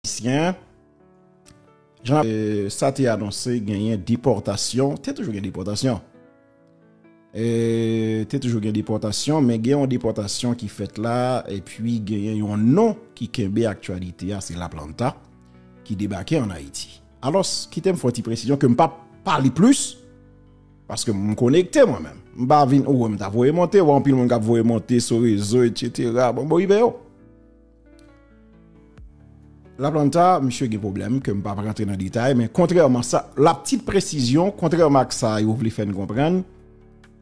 Ayisyen, jan sa te anonse genyen depòtasyon, te toujou gen depòtasyon, te toujou gen depòtasyon, men gen yon depòtasyon ki fèt la, epi genyen yon non ki kenbe aktualite a, se la planta ki debake an Ayiti. Alos, kite m fò ti presisyon ke m pa pale plis, paske m konekte mwen men. M pa vin, ou wè m ta voye monte, wè anpil moun kap voye monte sou rezo, et cetera, bon, bon, ive yo. La planta, misye gen pwoblèm ke m pa pran antre nan detay, men kontrèman sa, la ptit presizyon, kontrèman ak sa yo vle fè n konprann,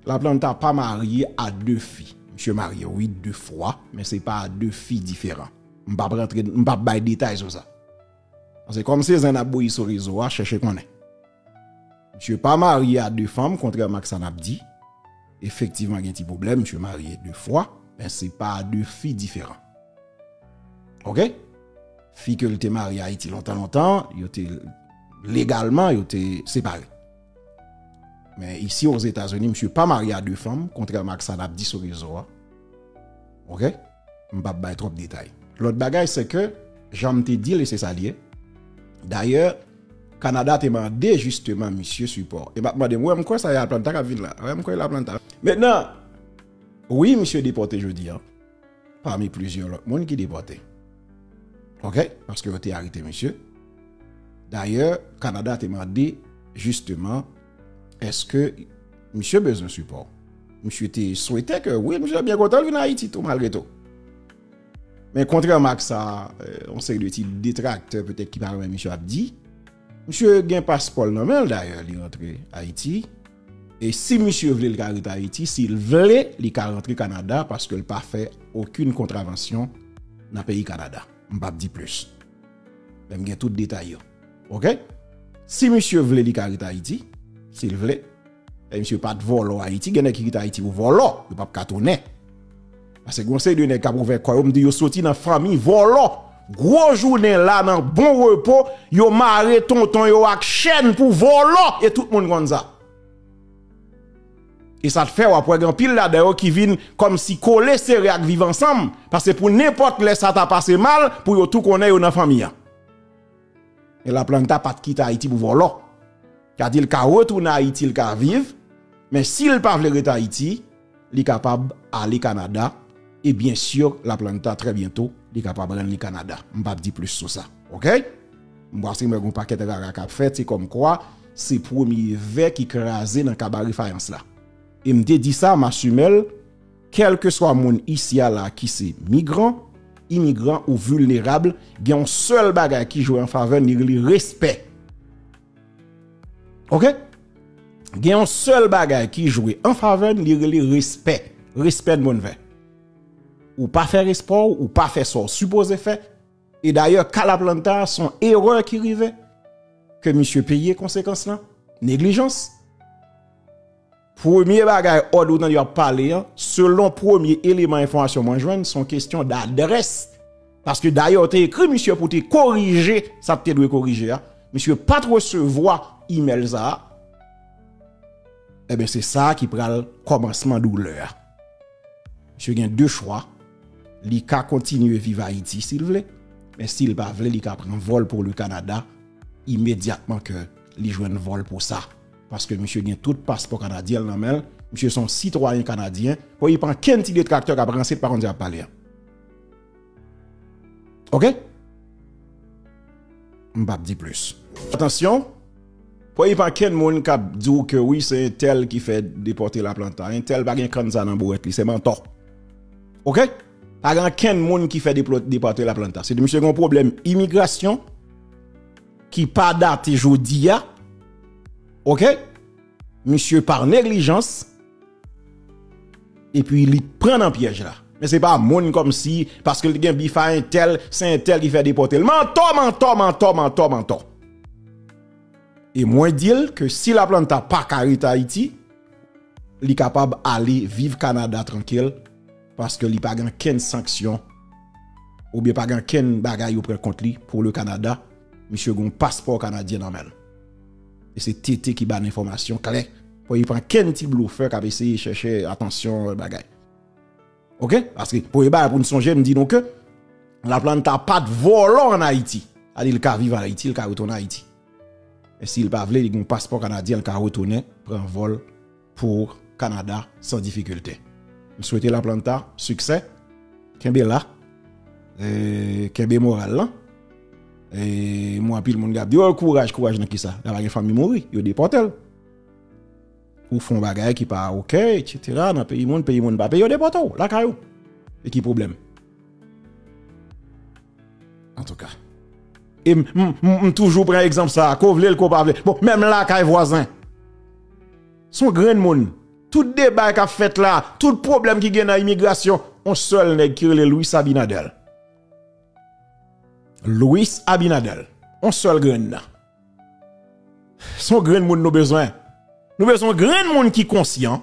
la planta pa marye a 2 fi. Misye marye wi 2 fwa, men se pa a 2 fi diferan. M pa pran antre, m pa bay detay sou sa. Pase kòm se zen n ap bouyi sou rezo a, chèche konnen. Misye pa marye a 2 fanm kontrèman ak sa nap di. Efektivman gen ti pwoblèm, misye marye 2 fwa, men se pa a 2 fi diferan. Ok? Fi ke li te marye Ayiti lontan lontan, yo te legalman yo te separe. Men isi o Zeta Zini, misye pa marye a 2 fanm kontrèman ak sa nap di sou rezo a. Ok? m pap bay twòp detay. Lòt bagay se ke, jan m te di l e se sa l ye, dayè Kanada te mande jisteman misye sipò. E m ap mande m, ou wè m kwè sa e Atlanta k ap vin la? Ou wè m kwè e l Atlanta? Mentnan, wi misye depòte jodi an, pami plizyè lòt moun ki depòte. Ok, paske yo te arete misye. Dayè Kanada te mande jisteman. Eske misye bezwen sipò? Misye te swete ke wi, misye te byen kontan vin Ayiti tou malgre tou. Men kontrèman ak sa, yon seri de ti detraktè petèt ki pa renmen misye ap di, misye gen paspò l nan men l dayè li rantre Ayiti, e si misye vle l ka rete Ayiti, si l vle li ka rantre Kanada paske l pa fè okin kontravansyon nan peyi Kanada. M pa p di plis. Men m gen tout detay yo. Ok Si misye vle li ka ret ayiti Sil vle E misye pat vòlò ayiti Gen nèg ki kite ayiti pou vòlò Yo pap ka tounen Pase gon seri de nèg kap ouvè kò yo Mdi yo soti nan fanmi vòlò Gwo jounen la nan bon repo Yo mare tonton yo ak chèn pou vòlò E tout moun konn sa E sa t fè wap wè gen anpil ladan yo ki vin Kòmsi kole sere ak viv ansanm Pase pou nenpòt lè sa ta pase mal Pou yo tou konnen yo nan fanmi an Men la planta pat kite ayiti pou volo. Kadi li ka retounen ayiti li ka viv, men si li pa vle rete ayiti, li kapab ale kanada, e byen sur la planta trè byento li kapab rann li kanada. M pap di plis sou sa. Ok. M pase m wè gon pakèt rara kap fèt, se kom kwa se premye vè ki kraze nan kabare fayans la. E m te di sa, m asumel. Kèlkeswa moun isi a la ki se migran, imigran ou vilnerab, gen yon sèl bagay ki jwe an favè n, li rele respè. Ok? Gen yon sèl bagay ki jwe an favè n, li rele respè. Respè n bon vè. Ou pa fè respè w, ou pa fè sa w sipoze fè. E dayè, ka la planta a, son erè ki rive, ke misye peye konsekans lan, neglijans. Premye bagay òd ou tande yo ap pale an, selon premye eleman enfòmasyon mwen jwenn, son kestyon d'adrès. Paske dayè yo te ekri misye pou te korije sa te dwe korije a, misye pat resevwa imèl sa a, eben se sa ki pral kòmansman doulè a. Misye gen 2 chwa, li ka kontinye viv Ayiti si l vle, men si l pa vle li ka pran vòl pou li Kanada imedyatman ke li jwenn vòl pou sa. Paske misye gen tout paspò kanadyenl nan menl, misye son sitwayen kanadyen, fò ypa ankenn ti detraktè kap ranse ypa konn sa yap pale an. Ok? Mpap di plis. Atansyon, fò ypa ankenn moun kap diw ke wi se entèl ki fè depòte Laplanta, entèl pa gen kann sa nan bourèt li, se mantò. Ok? Pa gen ankenn moun ki fè depòte Laplanta, se misye gen yon pwoblèm imigrasyon, ki pa date jodi a ok misye par neglijans epi li pran nan pyèj la men se pa moun kòm si paske li gen bif a entèl se entèl ki fè depòte l mantò mantò mantò mantò mantò e mwen di l ke si la planta pa ka rete ayiti li kapab ale viv kanada trankil Paske li pa gen ankenn sanksyon, ou byen pa gen ankenn bagay yo pran kont li pou le Kanada, misye gen yon paspò kanadyen nan men l. E se TT ki ba n enfòmasyon klè, pou epa ankenn ti blofè kap eseye chèche atansyon bagay. Ok, paske premye bagay pou n sonje m di nou ke Laplanta pat vòlò an Ayiti. Sa di li ka viv an Ayiti, li ka retounen Ayiti. Men si li pa vle, li gen yon paspò kanadyen li ka retounen pran vòl. pou Canada san difikilte. M swete la planta siksè, kenbe la, kenbe moral lan. E m wè anpil moun kap di oh kouraj, kouraj nan kisa? La pa gen fanmi mouri, yo depòte l. Ou fon bagay ki pa ok etc nan peyi moun, peyi moun pa peye yo depòte w lakay ou. E ki pwoblèm? Antouka. E m, m, m toujou pran egzanp sa a, ko vle l ko pa vle l. Bon, menm lakay vwazen. S on grenn moun. Tout deba k ap fèt la, tout pwoblèm ki gen nan imigrasyon, on sèl nèg ki rele Louis Abinader. Louis Abinader. On sèl grenn nan. Se yon grenn moun nou bezwen. Nou bezwen yon grenn moun ki konsyan.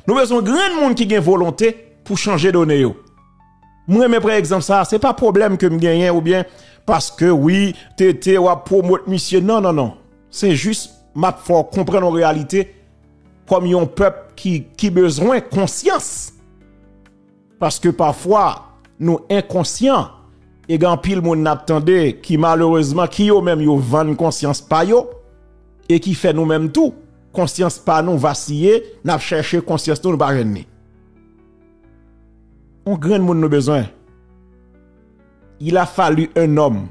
Nou bezwen yon grenn moun ki gen volonte pou chanje done yo. M renmen pran egzanp sa a. Se pa pwoblèm ke m genyen ou byen paske wi TT w ap pwomot misye. Non, non, non. Se jis m ap fè w konprann yon reyalite kòm yon pèp ki bezwen konsyans. Paske pafwa nou enkonsyan e gen anpil moun nap tande ki malerezman ki yo menm yo vann konsyans pa yo e ki fè nou menm tou konsyans pa nou vasiye nap chèche konsyans nou nou pa jwenn ni. On grenn moun nou bezwen. Il a fallu un homme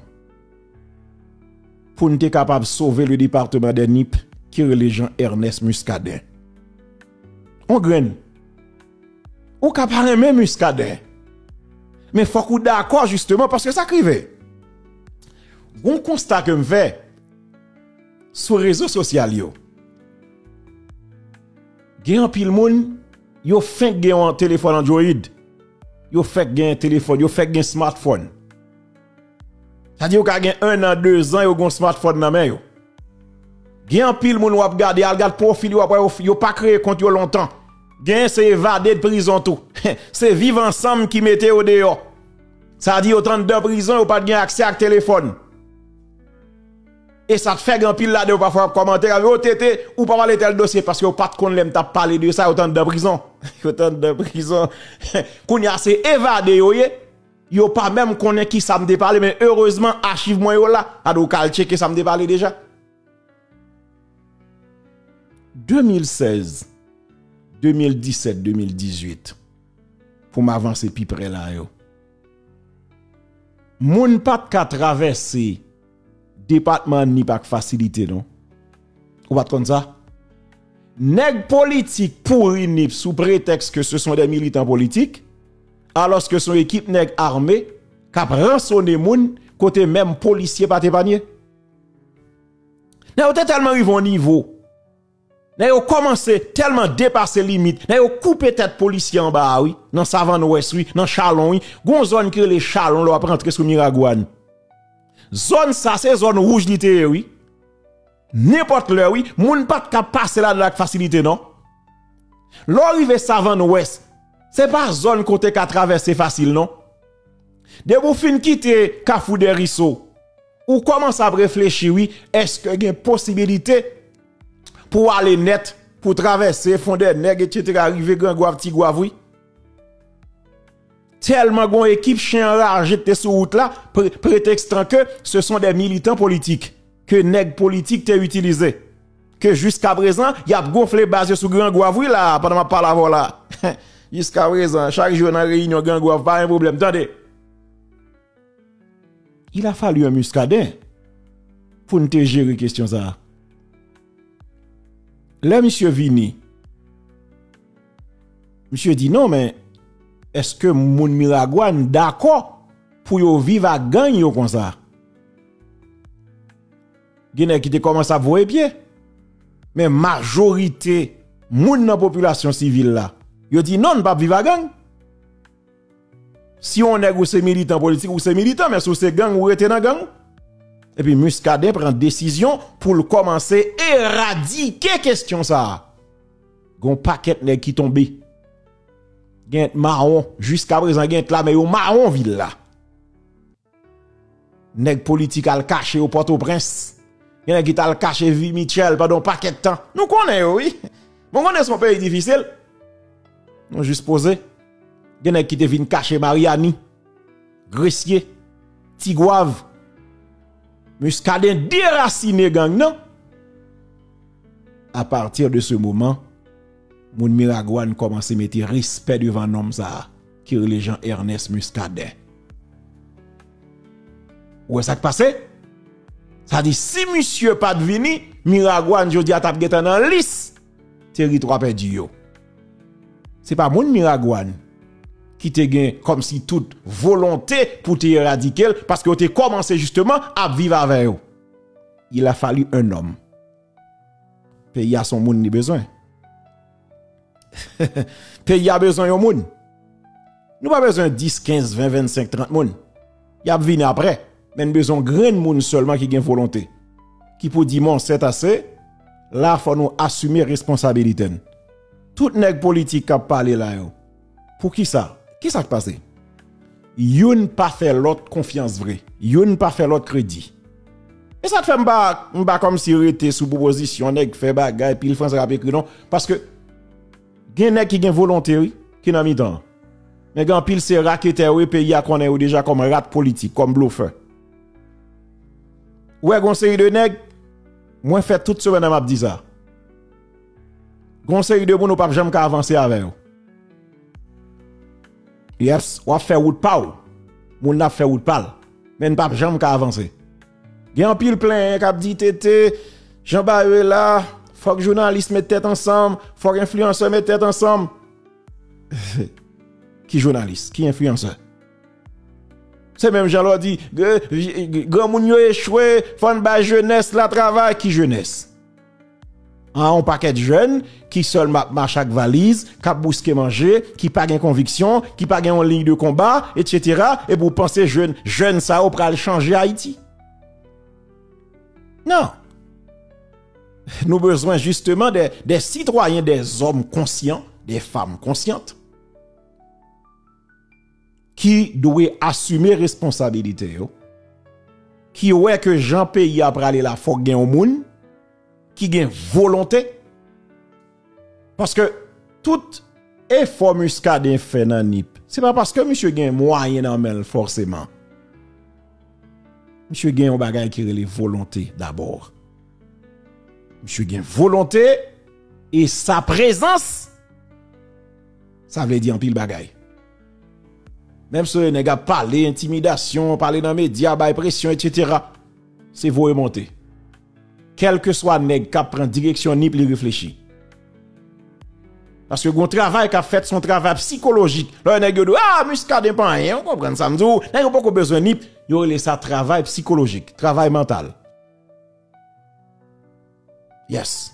pou nou te kapab sove le departement des Nip ki rele Jean Ernest Muscadin. On grenn. Ou ka pa renmen Muscadin. Men fòk ou dakò jisteman paske sa k rive. Gon konsta ke m fè sou rezo sosyal yo. Gen anpil moun yo fenk gen yon telefòn android. Yo fèk gen telefòn, yo fèk gen smartphone. Sa di yo ka gen 1 an 2 zan yo gon smartphone nan men yo. Gen anpil moun wap gade al gad profil yo wap wè yo pa kreye kont yo lontan. Gen se evade de prizon tou. Se viv ansanm ki mete yo deyò. Sa di yo t andan prizon yo pat gen aksè ak telefòn. E sa t fè gen anpil ladan yo pafwa ap kòmante ap di oh TT ou pa pale tèl dosye paske yo pat konn lèm tap pale de sa yo t andan prizon. Yo t andan prizon. Kounya se evade yo ye. Yo pa menm konnen ki sa m te pale men erezman achiv mwen yo la. Gade ou ka al tcheke sa m te pale deja. 2016, 2017, 2018 pou m avanse pi pre la yo. Moun pa t ka travèse. Depatman Nip ak fasilite non. Ou pat konn sa? Nèg politik pouri Nip sou pretèks ke se son dè militan politik, alòs ke son ekip nèg arme kap ransone moun kote menm polisye pat epanye. Nèg yo te tèlman rive yon nivo. Nèg yo kòmanse tèlman depase limit, nèg yo koupe tèt polisye anba a wi, nan savann wès wi, nan chalon wi, gon zòn ki rele chalon lè wap rantre sou miragwàn. Zòn sa se zòn wouj li te ye wi. Nenpòt lè wi, moun pat ka pase ladan ak fasilite non. Lè w rive savann wès, se pa zòn kote ka travèse fasil non. Depi w fin kite kafou dèriso, ou kòmanse ap reflechi wi, èske gen posibilite. pou w ale nèt, pou w travèse fon dè nèg etc. Rive gran gwav ti gwav wi. Tèlman gon ekip chen anraje te sou wout la, pretèkstan ke se son dè militan politik, ke nèg politik te itilize. Ke jiska prezan, y ap gonfle baz yo sou gran gwav wi la, pandan m ap pale avè w la. Jiska prezan, chak jou yo nan reyinyon gran gwav pa gen pwoblèm tande. Il a fallu un Muscadin pou nou te jere kesyon sa a. Lè misye vini, misye di non men eske moun Miragwàn dakò pou yo viv ak gang yo konsa? Gen nèg ki te kòmanse ap voye pye, men majorite moun nan popilasyon sivil la, yo di non nou pap viv ak gang. Si yon nèg ou se militan politik, ou se militan, men si ou se gang, ou rete nan gang. Epi Muscadin pran desizyon pou l kòmanse eradike kestyon sa a. Gon pakèt nèg ki tonbe. Gen t mawon, jiska prezan gen t la men yo mawon vil la. Nèg politik al kache yo Pòtoprens. Gen nèg ki tal kache Vie Mitchell pandan yon pakèt tan. Nou konnen yo wi. Nou konnen se yon peyi difisil. Nou jis poze. Gen nèg ki te vin kache Mariani, Gresye, Tigwav, Muscadin derasine gang nan. A patir de se moman, moun Miragwàn kòmanse mete respè devan nonm sa a. Ki rele Jean Ernest Muscadin. Ou wè sak pase? Sa di si misye pat vini, Miragwàn jodi a tap gentan nan lis teritwa pèdi yo. Se pa moun Miragwàn ki te gen kòm si tout volonte pou te eradike l, paske yo te kòmanse jisteman ap viv avè yo. Il a fallu un homme. Peyi a son moun li bezwen. Peyi a bezwen yon moun. Nou pa bezwen 10, 15, 20, 25, 30 moun. Y ap vini apre. Men nou bezwen yon grenn moun sèlman ki gen volonte. Ki pou di bon sèt ase, la fò nou asime responsabilite n. Tout nèg politik k ap pale la yo. Poukisa? Kisa k pase? Youn pa fè lòt konfyans vre. Youn pa fè lòt kredi. E sa k fè m pa, m pa kòmsi rete sou pwopozisyon nèg fè bagay, pil franse k ap ekri non. Paske gen nèg ki gen volonte wi, ki nan mitan an. Men gen anpil se raketè yo ye, peyi a konnen yo deja kòm rat politik, kòm blofè. Ou wè gen yon seri de nèg, mwen fè tout semèn an m ap di sa. Gon seri de moun ou pap janm ka avanse avè yo. Yes, wap fè wout pa ou. Moun nan ap fè wout pa l. Men nou pap janm ka avanse. Gen anpil plenyen kap di TT, jan bagay yo ye la, fòk jounalis met tèt ansanm, fòk enfliyansè met tèt ansanm. Ki jounalis? Ki enfliyansè? Se menm jan lò di, granmoun yo echwe, fòn bay jenès la travay. Ki jenès? An, on pakèt jèn ki sèlman ap mache ak valiz, k ap bouske manje, ki pa gen konviksyon, ki pa gen yon liy de konba, etsetera, epi ou panse jèn sa yo pral chanje Ayiti? Non! Nou bezwen jisteman de sitwayen, de zòm konsyan, de fanm konsyant. ki dwe asime responsabilite yo, ki wè ke jan peyi a prale la fòk gen yon moun ki gen volonte, paske tout efò Muscadin fè nan Nip, se pa paske misye gen mwayen nan men l fòseman, misye gen yon bagay ki rele volonte dabor, misye gen volonte e sa prezans. Sa vle di anpil bagay. Menm se nèg ap pale entimidasyon, pale nan medya, bay presyon, etc. Se voye monte. Kelke swa nèg kap pran direksyon Nip li reflechi. Paske gon travay kap fèt son travay psikolojik. Lè yon nèg yo di w, ah Muscadin pa anyen, ou konprann sa m di w. Nèg yo poko bezwen Nip, yo rele sa travay psikolojik, travay mantal. Yes.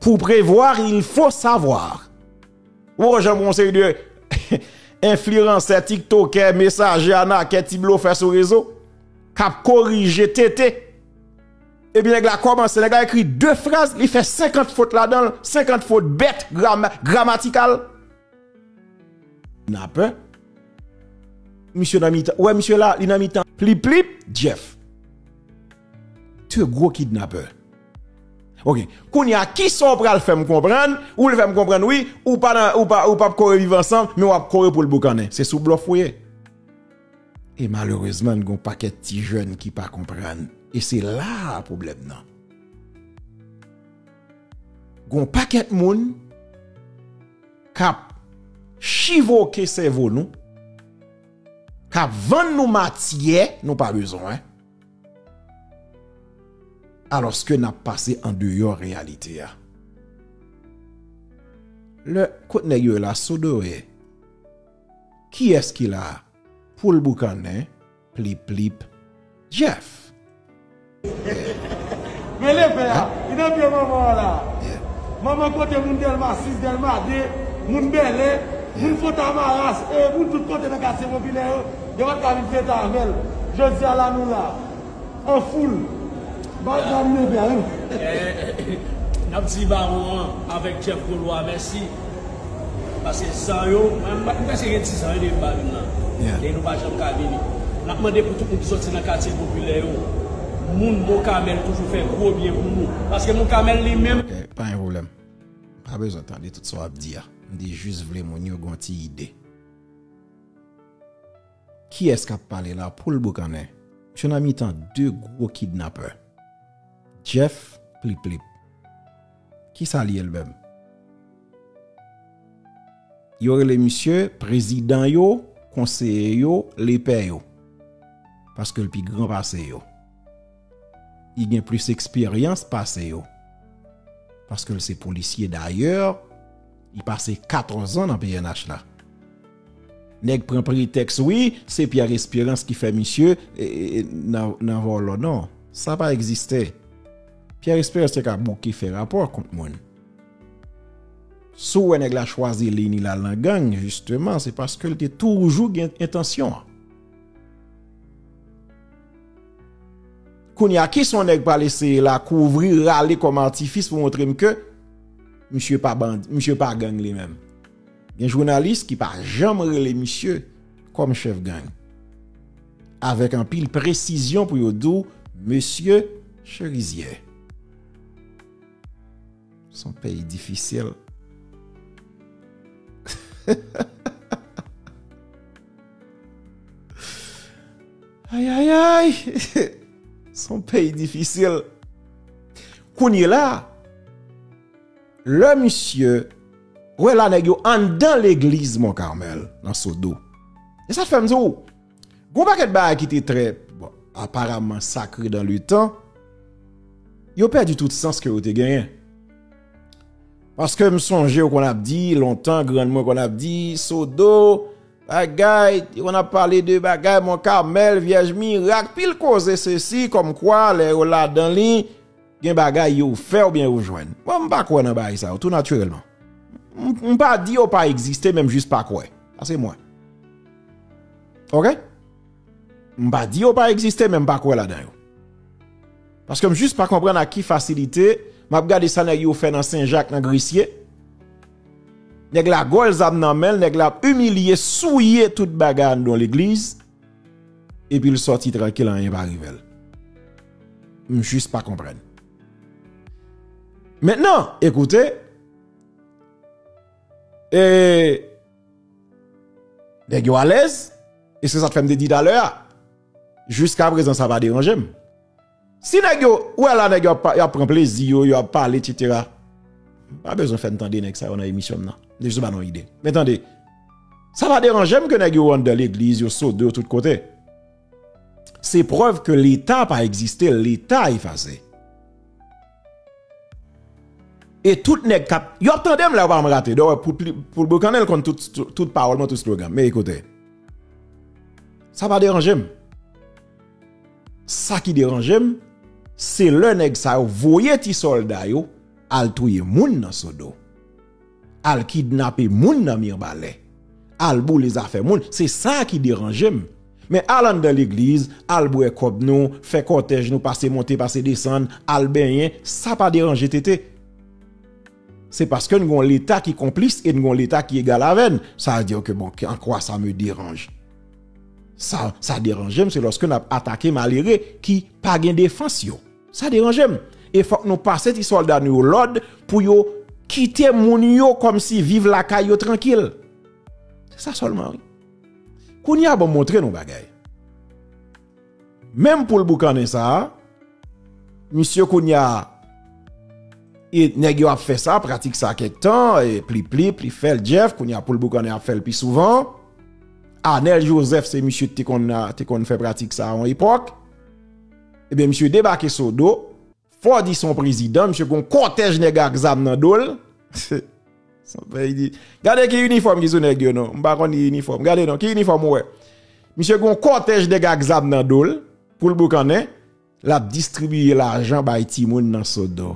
Pour prevoir il faut savoir. Ou wè jan yon seri de enfliransè, tiktokè, mesajè, anakè, ti blofè sou rezo k ap korije tete. Epi nèg la kòmanse, nèg la ekri 2 fraz, li fè 50 fot ladan l, 50 fot bèt, gramatikal. Nan pè. Misye nan mitan, ou wè misye la, li nan mitan pliplip, Jeff. 2 gwo kidnapè ok kounya kisa ou pral fèm konprann ou vle fèm konprann wi ou pa nan ou pa ou pap kore viv ansanm men wap kore poul boukannen se sou blòf ou ye e malerezman n gon pakèt ti jèn ki pa konprann e se la pwoblèm nan gon pakèt moun kap chivoke sèvo nou kap vann nou matyè nou pa bezwen. Alòske n ap pase andeyò reyalite a. Lè, kot nèg yo la, Sodoe? Kiyès ki la? Poul boukannen, plip plip, Jeff! Men leve a! Li nan pye manman an la! Manman kote moun Dèlma 6, Dèlma 2, moun Bèlè, moun Fontamara, moun tout kote nan katye popilè yo Gen lòt ka vin fete avèl. Jodia la nou la an foul. Baz la rive bèl wi. Nap di bawon an avèk Jeff Golois mèsi. Pase zan yo. Mwen prèske gen dizan wi depi bawin la. E nou pa janm ka vini. Nap mande pou tout moun ki soti nan katye popilè yo. Moun Mokamel toujou fè gwo byen pou nou. Paske Mokamel li menm. Ok pa gen pwoblèm. Mpa bezwen tande tout sa wap di a. Mte jis vle moun yo gen yon ti ide. Kiyès kap pale la poul boukannen misye nan mitan 2 gwo kidnapè Jeff plip plip kisa li ye l menm yo rele misye prezidan yo konseye yo lepè yo paske l pi gran pase yo. li gen plis eksperyans pase yo paske l se polisye dayè li pase 14 an nan pnh la nèg pran pretèks wi se pierre esperans ki fè misye nan vòlò non sa pa egziste pierre esperans te ka bouke fè rapò kont moun sou wè nèg la chwazi liy ni lal nan gang jisteman se paske l te toujou gen entansyon an. Kounya kisa yon nèg pral eseye la kouvri rale kòm atifis pou montre m ke misye pa bandi, misye pa gang li menm. Gen jounalis ki pa janm rele misye kòm chèf gang. Avèk anpil presizyon pou yo di w mesye Cherizier. Son peyi difisil. Ayayayy! Son peyi difisil. Kounye la, lè misye, wè la nèg yo anndan legliz Mont Carmel nan Sodo. E sa fèm di w, g'on pakèt bagay ki te trè, bon, aparamman sakre dan le tan, yo pèdi tout sans ke yo te genyen. Paske m sonje yo konn ap di lontan, grann mwen konn ap di, Sodo, Bagay, yo konn ap pale de bagay Mont Carmel, Vyèj Mirak, pil koze sesi kòm kwa lè yo ladan li gen bagay yo fè ou byen yo jwenn. Mwen m pa kwè nan bagay sa yo tou natirèlman. M pa di yo pa egziste men m jis pa kwè. Sa se mwen. Ok? M pa di yo pa egziste men m pa kwè ladan yo. Paske m jis pa konprann ak ki fasilite m ap gade sa nèg yo fè nan Senjak nan Gresye. Nèg la gòl zam nan menl, nèg la ap imilye, souye tout bagay anndan legliz, epil sòti trankil anyen pa rivel. M jis pa konprann. Mentnan, ekoute, e, nèg yo alèz, e se sa k fèm te di talè a, jiska prezan sa pa deranjem. Si nèg yo, ou wè la nèg yo ap pran plezi yo, yo ap pale et cetera, m pa bezwen fè n tande nèg sa yo nan emisyon m nan, m jis ban nou ide. Men tande, sa pa deranje m ke nèg yo anndan legliz, yo sode, yo tout kote. Se prèv ke leta pa egziste, leta efase. E tout nèg kap, yo ap tande m la yo pa janm rate, dè wè pou Boukane l konn tout pawòl mwen, tout slogan m, men ekoute. Sa pa deranje m. Sa ki deranje m, se lè nèg sa yo voye ti sòlda yo al touye moun nan Sodo, al kidnape moun nan Mirbalè, al boule zafè moun, se sa ki deranje m. Men al anndan legliz, al bwè kòb nou, fè kòtèj nou, pase monte, pase desann, al benyen, sa pa deranje Tete. Se paske n gon leta ki konplis e n gon leta ki egal avè n. Sa a dire ke bon, en quoi ça me dérange? Sa, sa deranje m se loske n ap atake malere ki pa gen defans yo. Sa deranje m. E fòk nou pase ti sòlda nou yo lòd pou yo kite moun yo kòm si viv lakay yo trankil. Se sa sèlman wi. Kounye a bon m montre nou yon bagay. Menm poul boukannen sa a, misye kounya e nèg yo ap fè sa, pratik sa kèk tan, e plip plip, li fèl Jeff, kounya poul boukannen ap fèl pi souvan. Anel Joseph se misye te konn fè pratik sa a yon epòk. Ebyen misye debake Sodo. Ford i son prezidan misye gon kòtèj nèg ak zam nan dol son peyi di gade ki inifòm ki sou nèg yo non m pa konn ki inifòm gade non ki inifòm ou wè misye gon kòtèj nèg ak zam nan dol poul boukannen lap distribiye lajan bay timoun nan sodo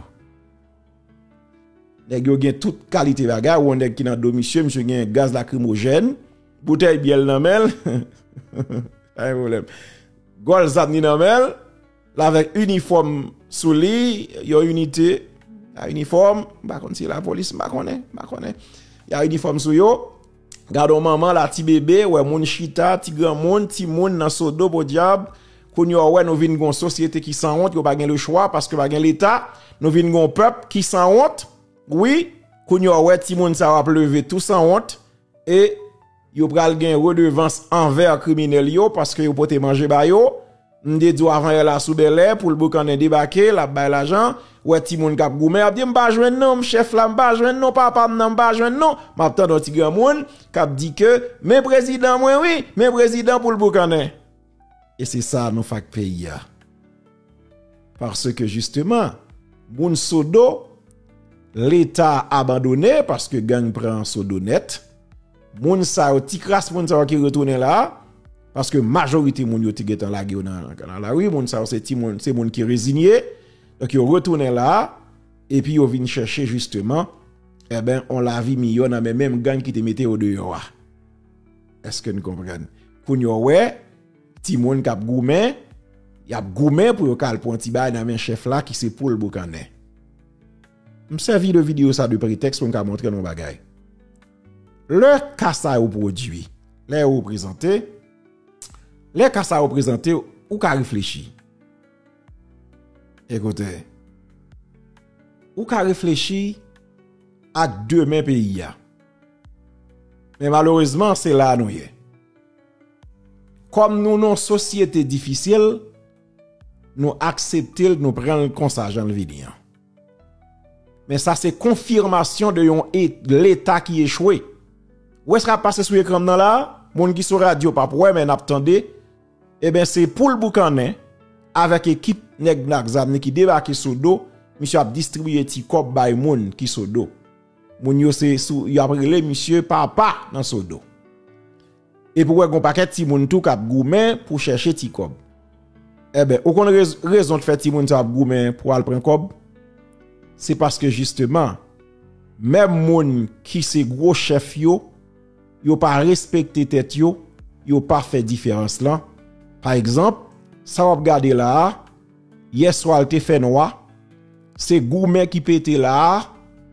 nèg yo gen tout kalite bagay ou wè yon nèg ki nan do misye misye gen gaz lakrimojèn boutèy byèl nan menl pa gen pwoblèm gòl zam ni nan menl. La vek uniform sou li, yon unité la uniform, ba konn si la polis, ba konnen, ba konnen. Ya uniform sou yo. Gadon manman la ti bebe, wè moun chita, ti gran moun, ti moun nan so do podiab. Koun yo wè nou vin gon sosyete ki san wont, yo pa gen le chwa paske pa gen leta. Nou vin gon pèp ki san wont. Wi, koun yo wè ti moun sa wap leve tou san wont. E. yo pral gen redevans anvè kriminèl yo paske yo pote manje ba yo. M te di w avan yè la sou Bèlè pou l boukannen debake, l ap bay lajan. Ou wè timoun k ap goumen, y ap di m pa jwenn non, m chèf la m pa jwenn non, papa m nan m pa jwenn non. M ap tande yon ti granmoun k ap di ke men prezidan mwen wi, men prezidan pou l boukannen. E se sa nou fak peyi a. Paske jisteman, moun Sodo, leta abandone paske gang pran Sodo nèt. Moun sa yo, ti kras moun sa yo ki retounen la, paske majorite moun yo te gen tan lage yo nan lari, moun sa yo se ti moun, se moun ki rezinye, donk yo retounen la, epi yo vin chèche jisteman, e ben, on lavi miyò nan men menm gang ki te mete yo deyò a. Eske nou konprann? Kounye ou wè. Timoun k ap goumen, y ap goumen pou yo ka al pran ti bagay nan men chèf la ki se poul boukannen. M sèvi de videyo sa de pretèks pou m ka montre nou yon bagay. Lè ka sa yo pwodui, lè yo reprezante, lè ka sa yo prezante, ou ka reflechi. Ekoute, ou ka reflechi ak demen peyi a. Men malerezman, se la nou ye. Kòm nou non sosyete difisil, nou aksepte l, nou pran l konsa jan l vini an. Men sa se konfirmasyon de yon leta ki echwe. Ou wè sa kap pase sou ekran m nan la a? Moun ki sou radyo pap wè men nap tande. Eben se poul boukannen avèk ekip nèg n ak zam li ki debake Sodo, misye ap distribiye ti kòb bay moun ki Sodo. Moun yo se sou yo ap rele misye papa nan sodo. Epi ou wè gon pakèt timoun tou kap goumen pou chèche ti kòb. Enben, ou konn rezon k fè timoun sa yo ap goumen pou al pran kòb? Se paske jisteman, menm moun ki se gwo chèf yo, yo pa respekte tèt yo, yo pa fè diferans lan. Pa egzanp, sa w ap gade la a, yè swa l te fè nwa, se goumen ki pete la a,